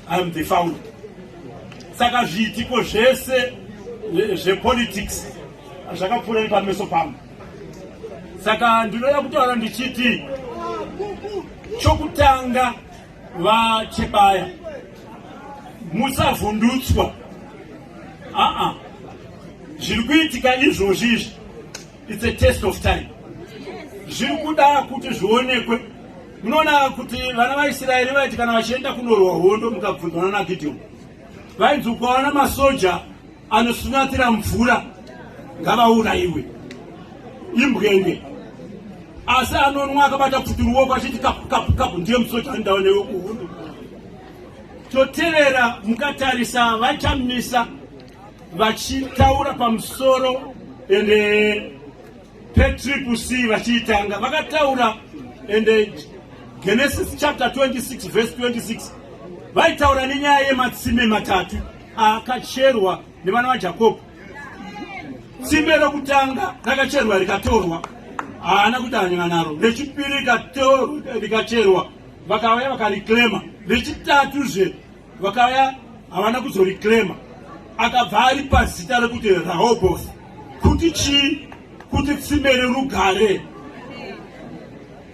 I'm the founder. Saka zviitiko zvese zvepolitics zvakapfuura nepameso pangu. Saka ndinoda kutaura ndichiti chokutanga vachebaya musavhundutswa aa zviri kuitika izvozvi izvi It's a test of time. Zviri kuda kuti zvionekwe. Munoona kuti vana vaIsraeri vaiti kana vachienda kunorwa hondo mukabvunzwa nana Gideon. Vainzi ukaona masoja anosunyatira mvura ngavaurayiwe. Imbwenge. Asi anonwa akabata pfuti ruoko achiti kapu kapu kapu ndiye musoja andawa newe kuhondo. Totevera mukatarisa vachamisa vachitaura pamusoro ende eh, petriple c vachiitanga vakataura ende eh, genesis chapter 26 verse 26 vaitaura nenyaya yematsime matatu akacherwa nevana vajakobho tsime rokutanga rakacherwa rikatorwa haana kuti anyana naro rechipiri rikacherwa vakauya vakareclema rechitatuzve vakauya havana kuzoreclaima akabva ari pazita rekuti rahobos kuti chii kuti tsime rerugare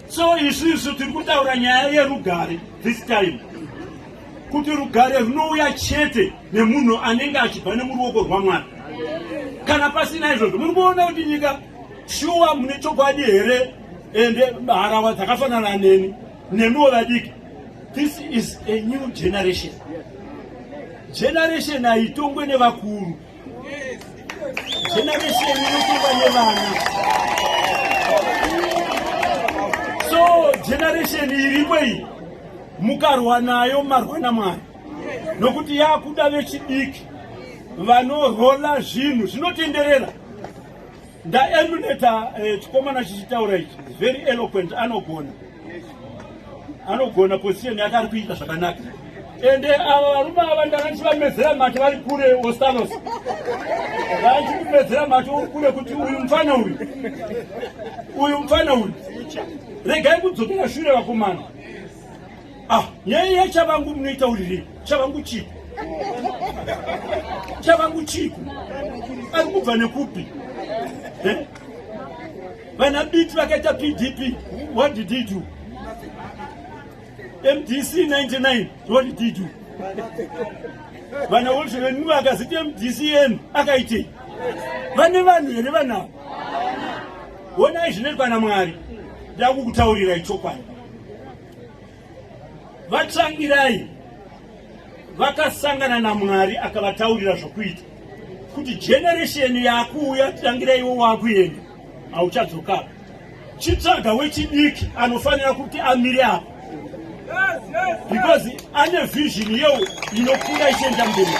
so isu isu tiri kutaura nyaya yerugare this time kuti rugare runouya chete nemunhu anenge achibva nemuruoko rwamwari kana pasina izvozvo muri kuona kuti nyika shuwa mune chokwadi here ende harawa dzakafanana neni nemiwo vadiki This is a new generation. Generation haitongwe nevakuru. Generation inotongwa nevana. So generation iripo iyi mukarwa nayo marwa naMwari nokuti yakuda vechidiki vanorola zvinhu zvinotenderera. Ndaemuleta eh, chikomana chichitaura ichi is very eloquent anogona anogona position yake ari kuita zvakanaka ende ava varume ava ndakanti vamedzera mati vari kure ostalos vaanti kumedzera mati uri kure kuti uyu mfana uyu uyu mfana uyu regai kudzokera shure vakomana Ah, nyaya yachavangu munoitauriri chavangu chiiko chavangu chiiko ari kubva nekupi eh? vana biti vakaita pdp what did he do mdc 99 what did he do vana wolshevenmu vakaziti mdc yenu akaitei vane vanhu here vanavo honai zvinoitwa namwari ndakukutaurirai chokwadi VaTsvangirai vakasangana naMwari akavataurira zvokuita kuti generesheni yakuuya tangira iwo wakuenda hauchadzoka chitsvaga wechidiki anofanira kuti amire apo because ane vision yeo inokura ichienda mberi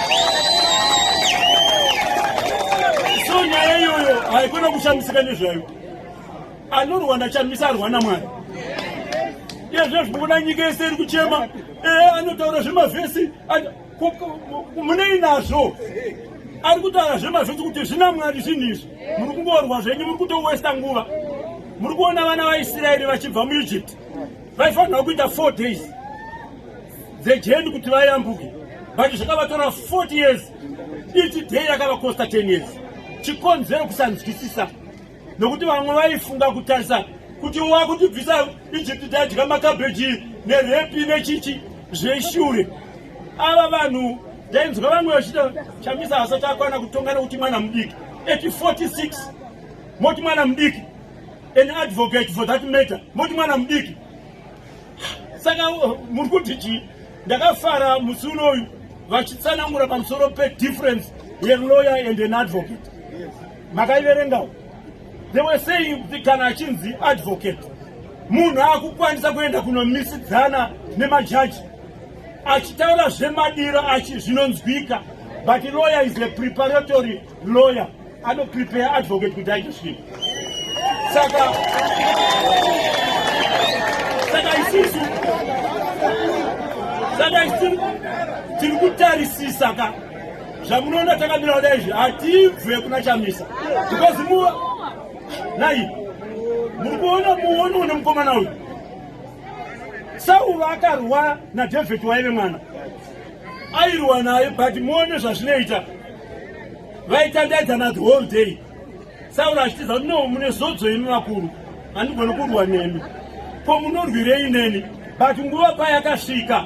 so nyaya iyoyo haikona kushamisika nezvayo anorwa ndachamisa arwa namwari iyezve zvikuona nyika yese iri kuchema ee anotaura zvemavhesi munei nazvo ari kutaura zvemavhesi kuti zvina mwari zvinhu izvi muri kungorwa zvenyu muri kutowesta nguva muri kuona vana vaisraeri vachibva muegypt vaifanirwa kuita four days dzejeni kuti vayambuke but zvakavatora 40 years ichi day yakavakosta 10 years chikonzero kusanzwisisa nokuti vamwe vaifunga kutarisa kuti wakutibvisa egypt tadya makabheji nerepi nechichi zveshure ava vanhu ndainzwa vamwe vachita chamisa asati akwana kutonga nekuti mwana mudiki at 46 moti mwana mudiki an advocate for that matter moti mwana mudiki saka uh, muri kuti chii ndakafara musi unoyu vachitsanangura pamusoro pedifference yeloyer and an advocate makaiverengawo they were saying kuti kana achinzi advocate munhu akukwanisa kuenda kunomisidzana nemajaji achitaura zvemadiro achi zvinonzwika but lawyer is a preparatory lawyer anoprepare advocate kuti aite svii saka saka isisu saka isi tiri kutarisisa ka zvamunoona takamira kudai izvi hatibve kuna chamisa because mu nai muri kuona muoni une mukomana uyu sauva akarwa nadavid waive mwana airwa naye but muone zvazvinoita vaitandaidzana the whole day sauro achitiza kuti no mune zodzo imi vakuru handigoni kurwa nemi ko munorwirei neni but nguva payakasvika